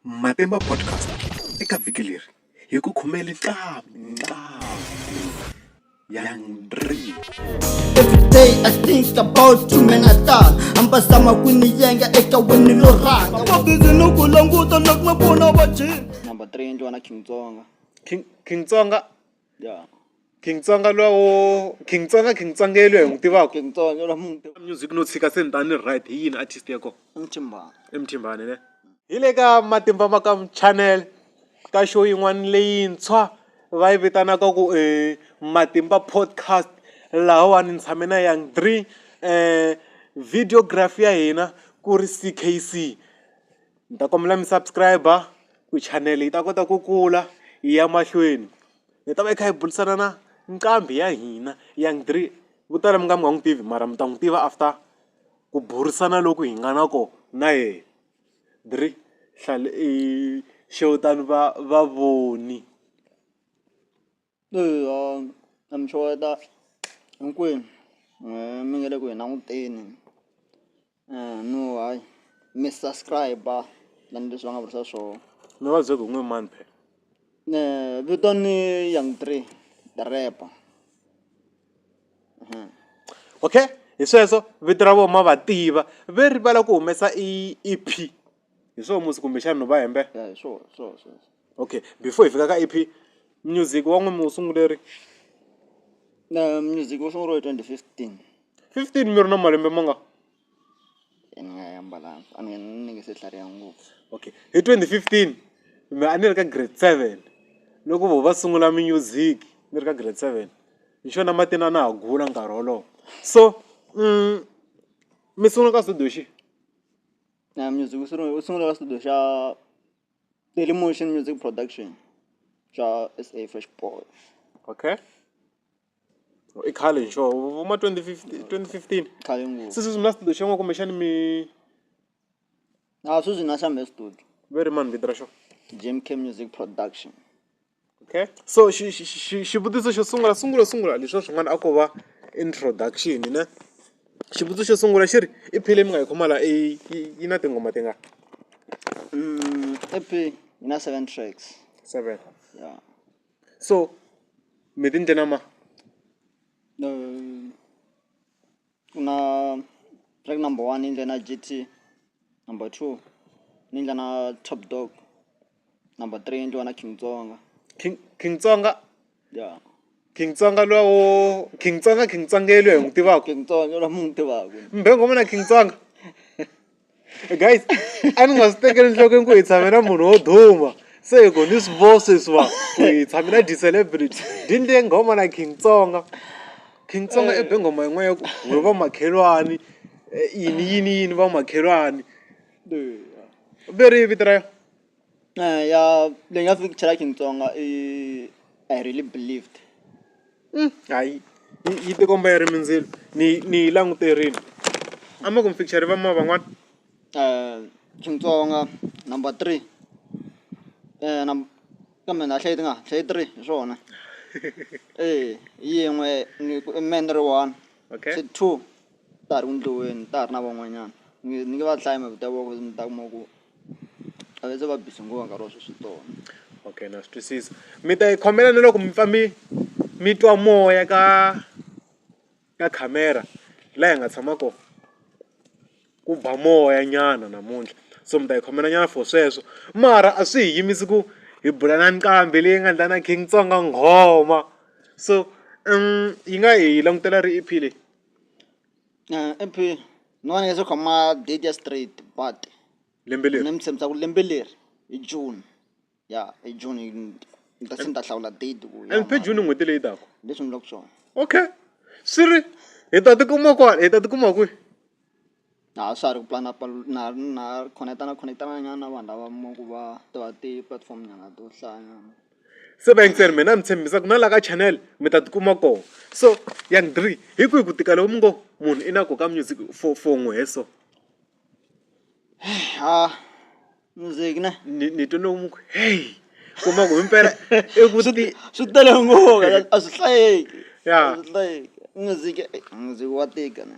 Matimba Podcast eka vhiki leri hi ku khomele ntlhanu Everyday I think about you man I start ambasama kwiniyenga eka wini lo raka mabizi ni ku languta na ku pfuna vajini number 3 endliwa na King Tsonga King King Tsonga ya King Tsonga lowo King Tsonga King Tsonga ya loyi hi n'wi tivaka King Tsonga ya loyi hi n'wi tivaka music no tshika se ni ta ni right hi yini artist ya kona i Mthimbani i Mthimbani ne hi le ka matimba ma ka channel ka show yin'wana leyintshwa va yi vitanaka ku i matimba podcast lahawani ni tshame na Young Dree videography ya hina ku ri C_K_C. Ni ta kombela mi subscribe-a ku chanele yi ta kota ku kula yi ya mahlweni. Hi ta va hi kha hi burisana na nqambi ya hina Young Dree. Vo tala mi nga mi nga n'wi tivi mara mi ta n'wi tiva after ku burisana loku hi nga na kona na yena. Dree xewetani va vavoni. na mi xeweta hinkwenu mi nga le ku hi languteni no hayi mi subscribe-a tanihileswi va nga vurisa swona. Mi vabya ku hi n'we mani phela. Vito ni Young Three the rapper. Okay hi sweswo vito ra vona ma va tiva ve rivala ku humesa i E_P hi swona musi kumbexana no va hembela. Ya hi swona hi swona hi swona. Okay before hi fika ka E_P music wa n'wina mi wu sungule ri music wu sunguriwe hi twenty fifteen fifteen mi ri na malembe ma nga ni nga ya mbalanga a ni ni nge se tlhariha ngopfu okay hi twenty fifteen me a ni ri ka grade seven loko vo va sungula music ni ri ka grade seven hi xona matina a na ha gula nkarhi wolowo so mi sungula ka studio xihi music wu sunguriwe wu sunguriwe ka studio xa. Daily Motion Music Production bya SA Fresh Boy. okay i khale hi xona vuma 2015 2015 Khale ngopfu. se sweswi mi na studio xin'we kumbexani mi A sweswi na xambe studio. ve ri mani vito ra xona Jim K Music Production. okay so xi xi xi xivutiso xo sungula sungula sungula leswiya swin'wana a ko va introduction ne xivutiso xo sungula xi ri i phile mi nga yi khoma la i yi yi na tinghoma ti nga E_P yi na seven tracks seven ya so mi ti endle na ma . Kuna track number one i ndlela G_T number two ni nga na top dog number three endliwa na king tsonga king king tsonga ya king tsonga luya wo king tsonga king tsonga yelweyo hi n'wi tivaka king tsonga loyi munhu tivaka mbhengoma na king tsonga. guys a ni nga swi tekeli enhlokweni ku hi tshame na munhu wo duma se hi ku ni swi vo sweswiwa ku hi tshame na ti-celebrity dini leyi nghoma na king tsonga king tsonga i be nghoma yin'wana ya ku we va makhelwani yini yini yini va makhelwani ve ri yini vito ra yona. ya leyi nga fiki chalaki Xitsonga i I really believed hayi yi ti komba yi ri mindzilo ni yi ni yi languterile a mi ku mi picture va movha n'wana Xitsonga number three kambe na ha hlayi ti nga hlayi three hi swona yin'we ni ku i mehe ni ri one two. ta ha ri ku endliweni ta ha ri na van'wanyana ni nge ni nge va dlayi hi mhaka ku ta va ku ni ta kuma ku a va se va busy ngopfu nkarhi wa sweswi hi tona. Okay na swi twisisa mi ta hi khomela na loko mi pfa mi mi twa moya ka ka khamera laha hi nga tshama kona ku ba moya nyana namuntlha so mi ta hi khomela nyana for sweswo mara a swi hi yimisi ku hi bula na nqambi leyi nga ndlala na King Tsonga nghoma so yi nga hi langutela ri E_P leyi. MP ni vona leswo khoma date ya straight but lembe leri ni mi tshembisa ku lembe leri hi June ya hi June ni ta se ni ta hlawula date ku ya MP June n'hweti leyi taka leswi ni vulaka swona okay swi ri hi ta tikuma kwala hi ta tikuma kwihi. Naha sary mpanapalo- na- na- connectana connectana nyana vanhu lava mi kuma ku va tiva ti-platform nyana to hlaya nyana. Se va yingisela mehe na mi tshembisa ku na laha ka channel mi ta tikuma kona so young dree hi kwihi ku tika loko mi ngo munhu i na koho ka music for for n'we hi so. Hah music ne. Ni ni twe lomu ku heyi kuma ku himpela i ku ti swi tele ngopfu a swi hlayeki a swi hlayeki music music wa tika ne.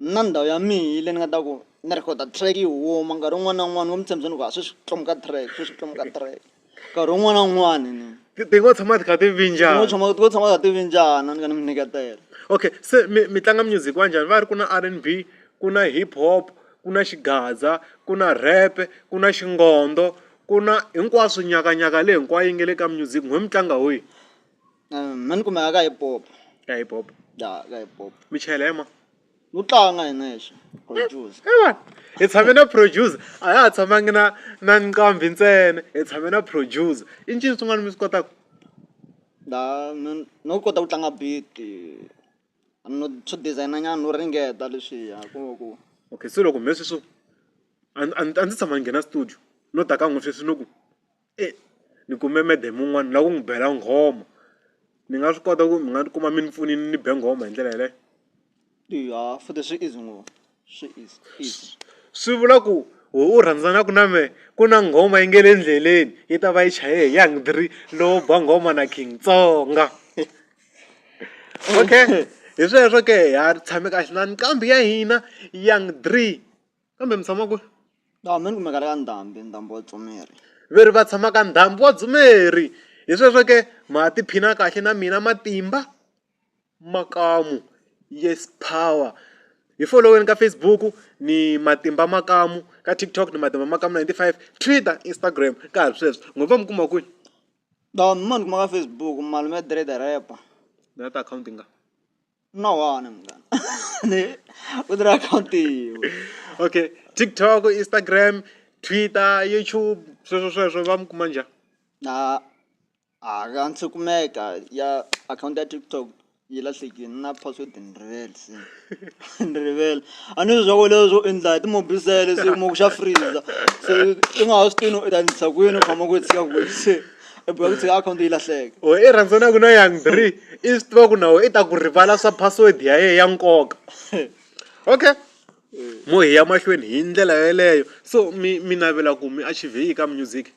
Na ndhawu ya mina yi le ni nga ta ku ni rhekhoda track yi huma nkarhi wun'wana na wun'wana vo mi tshembisa ni ku a sweswi lomu ka track sweswi lomu ka track nkarhi wun'wana na wun'wana ni ti ti ngo tshama ti kha ti ngo vinjana tshama ngo tshama ka ti vinjana ni ka ni mi nyiketela okay se mi mi tlanga music wa njhani va ri ku na r and b ku na hip hop ku na xigaza ku na rap ku na xingondo ku na hinkwaswo nyakanyaka leyi hinkwayo yi nga le ka music n'wina mi tlanga wihi. mhani kumbe a ka hi pop ka hi pop ya ka hi pop mi chela hi ma lu tlanga hi nexe confuse hi tshame na producer a ya ha tshamangi na na nqambi ntsena hi tshame na producer i ncini swin'wana mi swi kotaka da no kota ku tlanga beat no swo designer nyana no ringeta leswiya ku ku okay se loko mhe sweswo a ndzi tshama ni nghena studio no ta ka n'wi sweswi no ku e ni kume madam un'wana ni lava ku n'wi bela nghoma ni nga swi kota ku mi nga tikuma mi ni pfunile ni be nghoma hi ndlela yeleyo eya futhi swi easy ngopfu swi easy easy swi vula ku wehe u rhandzanaka na mehe ku na nghoma yi nge le endleleni yi ta va yi chaye hi young three lowo ba nghoma na king tsonga okay hi sweswo ke ha tshame kahle na nqambi ya hina young three. kambe mi tshama kwihi laha mi ni kumeka ka ndhambi ndhambi wa tsumeri ve ri va tshama ka ndhambi wa dzumeri hi sweswo ke ma tiphina kahle na mina matimba makamu yes power hi foloweni ka Facebook ni matimba makamu ka TikTok ni matimba makamu ninety five Twitter Instagram ka ha ri sweswo n'wi va mi kuma kwihi laha ma ni kuma ka Facebook malume Dread rapper na ti akhawunti nga. No one of them. Ne? Udra county. okay tiktok instagram twitter youtube sweswo sweswo va mi kuma njhani Na a ka ndzi kumeka ya account ya TikTok yi lahlekile na password ni rivele se ni rivele a ni swi swa ku leswo endla hi timobisele se mo ku xa freezer se i nga ha swi tivi no u ta endlisa kwini u khoma ku tshika kwini se i boheka ku tshika akhawunti yi lahleka or i rhandzanaku na young three i swi tiva ku na wena i ta ku rivala swa password ya yena ya nkoka okay mo hi ya mahlweni hi ndlela yeleyo so mi mi navela ku mi achieve yini ka music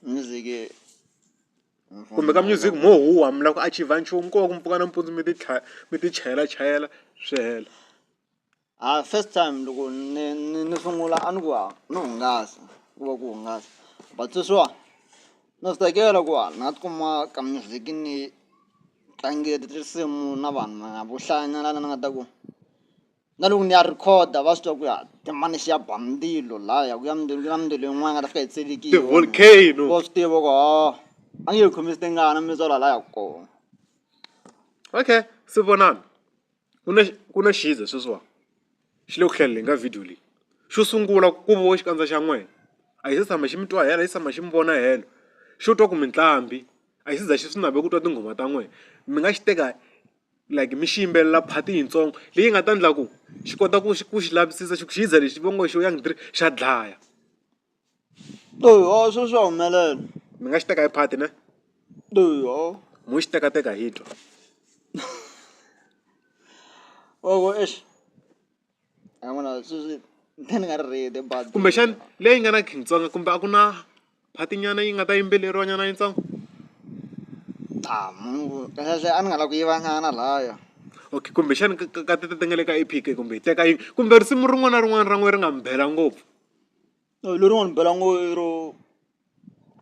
music kumbe ka music mo huhwa mi lava ku achieve nchumu ko va ku mpfuka nampundzu mi ti tlha mi ti chayela chayela swi hela. A first time loko ni ni ni sungula a ni ku ha no hungasa ku va ku hungasa but sweswiwa na swi tsakela ku ha na ti kuma ka music ni tlangela tinsimu na vanhu na vo hlaya nyana lana ni nga ta ku na loko ni ya record va swi tiva ku ya i mani xi ya ba ndzilo laya ku ya ndzilo ku na mindzilo yin'wana yi nga ta fika yi tselekile ti volcano wa swi tiva ku ha a nge hi khomisi tingana mi tswala laya kona okay swi vonana. ku na ku na xiza sweswiwa xi le ku hlaleleni ka video leyi xo sungula ku vo xikandza xa n'wina a xi se tshama xi mi twa helo a xi se tshama xi mi vona helo xo twa ku mitlambi a xi za xi swi naveli ku twa tinghoma ta n'wina mi nga xi teka like mi xi yimbelela part yitsongo leyi nga ta endla ku xi kota ku xi ku xi lavisisa xi ku xiza lexi va ngo xo young xa dlaya. Eya sweswo swa humelela mi nga xi teka hi phati ne eya mo xi tekateka hi twa wa ku exi a ni vona sweswi ni nga ri ready bazi kumbexani leyi nga na nkhinkhi ntsongo kumbe a ku na phati nyana yi nga ta yimbeleriwa nyana yitsongo kahlekahle a ni nga lava ku yiva nyana lahaya okay kumbexani ka ka ka ti ti nga le ka Epic kumbe hi teka yi kumbe risimu rin'wana na rin'wana ra n'wehe ri nga mi bela ngopfu. Lori n'wi bela ngo i ro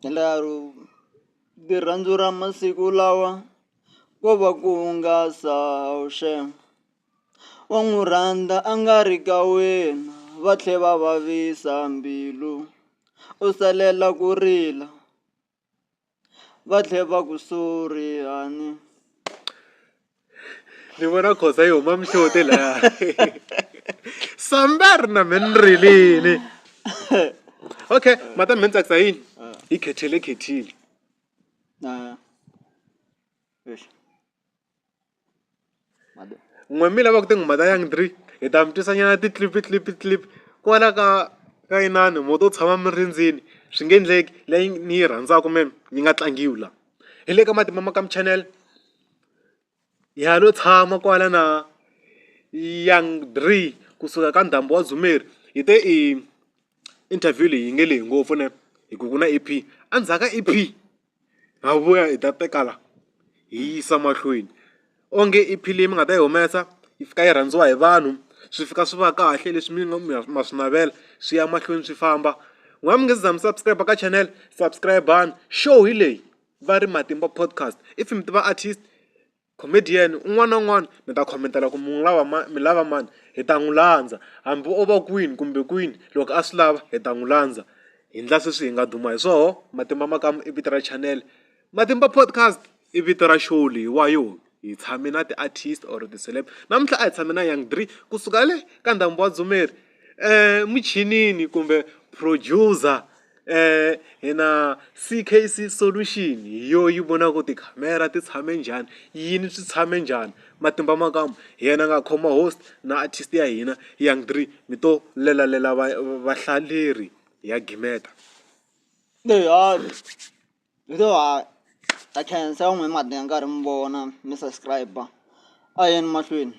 endla ro i rirhandzu ra masiku lawa ko va ku hungasa shame wa n'wi rhandza a nga ri ka wena va tlhe va vavisa mbilu u salela ku rila. va tlhe va ku sorry a ni ni vona khoza yi huma mihloti laya sambe a ri na me ni rilini okay mata me ni tsakisa yini yi khethele khethile na n'we mi lava ku tinghoma ta young drake hi ta mi twisa nyana ti-clip clip clip kwala ka ka inani mo to tshama mi rindzini swi nge endleki leyi ni yi rhandzaka me yi nga tlangiwi la hi le ka matimba ma ka mi channel ha lo tshama kwala na young drake kusuka ka ndzhambi wa dzumeri hi te i interview leyi yi nge lehe ngopfu ne hi ku ku na E_P endzhaku ka E_P. ha vuya hi ta teka la hi yi yisa mahlweni onge i filimi mi nga ta yi humesa yi fika yi rhandziwa hi vanhu swi fika swi va kahle leswi mi ma swi navela swi ya mahlweni swi famba n'wina mi nga se za mi subscribe ka channel subscribe-ani show hi leyi va ri matimba podcast if mi tiva artist. Comedian un'wana na un'wana mi ta khomentela ku mi n'wi lava mani mi lava mani hi ta n'wi landza hambi o va kwini kumbe kwini loko a swi lava hi ta n'wi landza hi endla sweswi hi nga duma hi swona matimba ma ka i vito ra chanele matimba podcast i vito ra show leyiwa yo hi tshame na ti-artist or ti-celeb namuntlha a hi tshame na Young Dree kusuka le ka ndhambi wa Dzumeri. Emuchinini kumbe producer hi na C_K_C solution hi yo yi vonaka ku tikhamera ti tshame njhani yini swi tshame njhani matimba ma kama hi yena a nga khoma host na artist ya hina Young Dree mi to lelalela va vahlaleri hi ya gimeta . hi to ha ha khensa van'we mi nga teka nkarhi mi vona mi subscribe a hi yeni mahlweni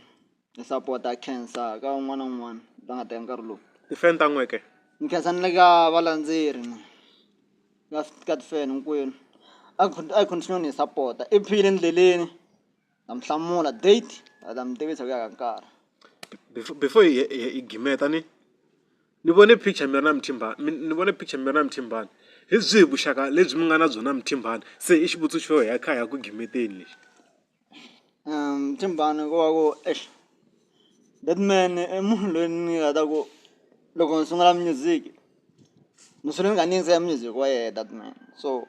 hi sapota ha khensa ka un'wana na un'wana la nga teka nkarhi lowu ti-fan ta n'weke ni khensa ni le ka valandzeri ni ka ka ti-fan hinkwenu a hi a hi continue ni hi sapota i phile endleleni. Na mi hlamula date a na mi tivisa ku ya ka nkarhi. Before before hi hi hi gimeta ni ni vone picture mi ri na Mthimbani mi ni vone picture mi ri na Mthimbani hi byihi vuxaka lebyi mi nga na byona na Mthimbani se i xivutiso xo hi ya kha hi ya ku gimeteni lexi. Mthimbani ko va ku exi that man i munhu loyi ni nga ta ku loko ni sungula music ni sungula ni kha ni yingisela music wa yena that man so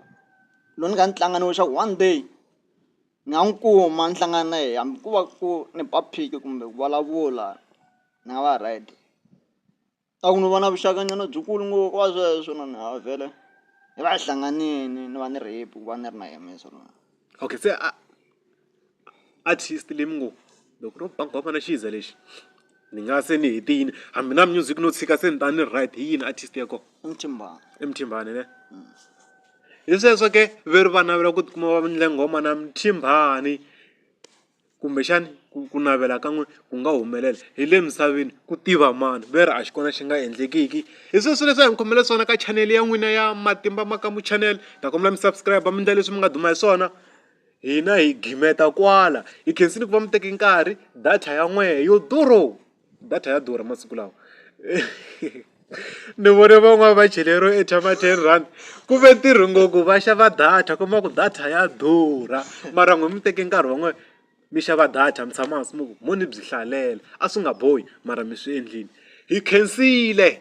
loko ni kha ni tlanga ni ku one day. Ni nga n'wi kuma ni hlangana na yena hambi ku va ku ni ba phiki kumbe ku vulavula ni nga va right a ku no va na vuxaka nyana byi kulu ngopfu ko va sweswo na ni nga vhele ni va hi hlanganini ni va ni ri happy ku va ni ri na yena so mara okay se a artist leyi mi ngo loko ku ri ba nghoma na xi za lexi ni nga se ni hetile hambi na music no tshika se ni ta ni right hi yini artist ya kona i Mthimbani i Mthimbani ne. Hi sweswo ke ve ri va navela ku ti kuma va endle nghoma na Mthimbani kumbexana ku ku navela ka n'wina ku nga humelela hi le misaveni ku tiva mani ve ri a xi kona xi nga endlekiki hi sweswo leswi a hi mi khomele swona ka chanele ya n'wina ya Matimba Makamu Channel ni ta kombela mi subscribe mi endla leswi mi nga duma hi swona hina hi gimeta kwala hi khensile ku va mi teke nkarhi data ya n'wehe yo durho. data ya durha masiku lawa ni vone van'wani va cheleriwe airtime ya ten rand ku ve ntirho ngo ku va xava data kuma ku data ya durha mara n'wina mi teke nkarhi wa n'wina mi xava data mi tshama hansi mi ku mo ni byi hlalela a swi nga bohi mara mi swi endlile hi khensile.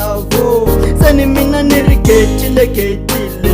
lavo se ni mina ni ri getile getile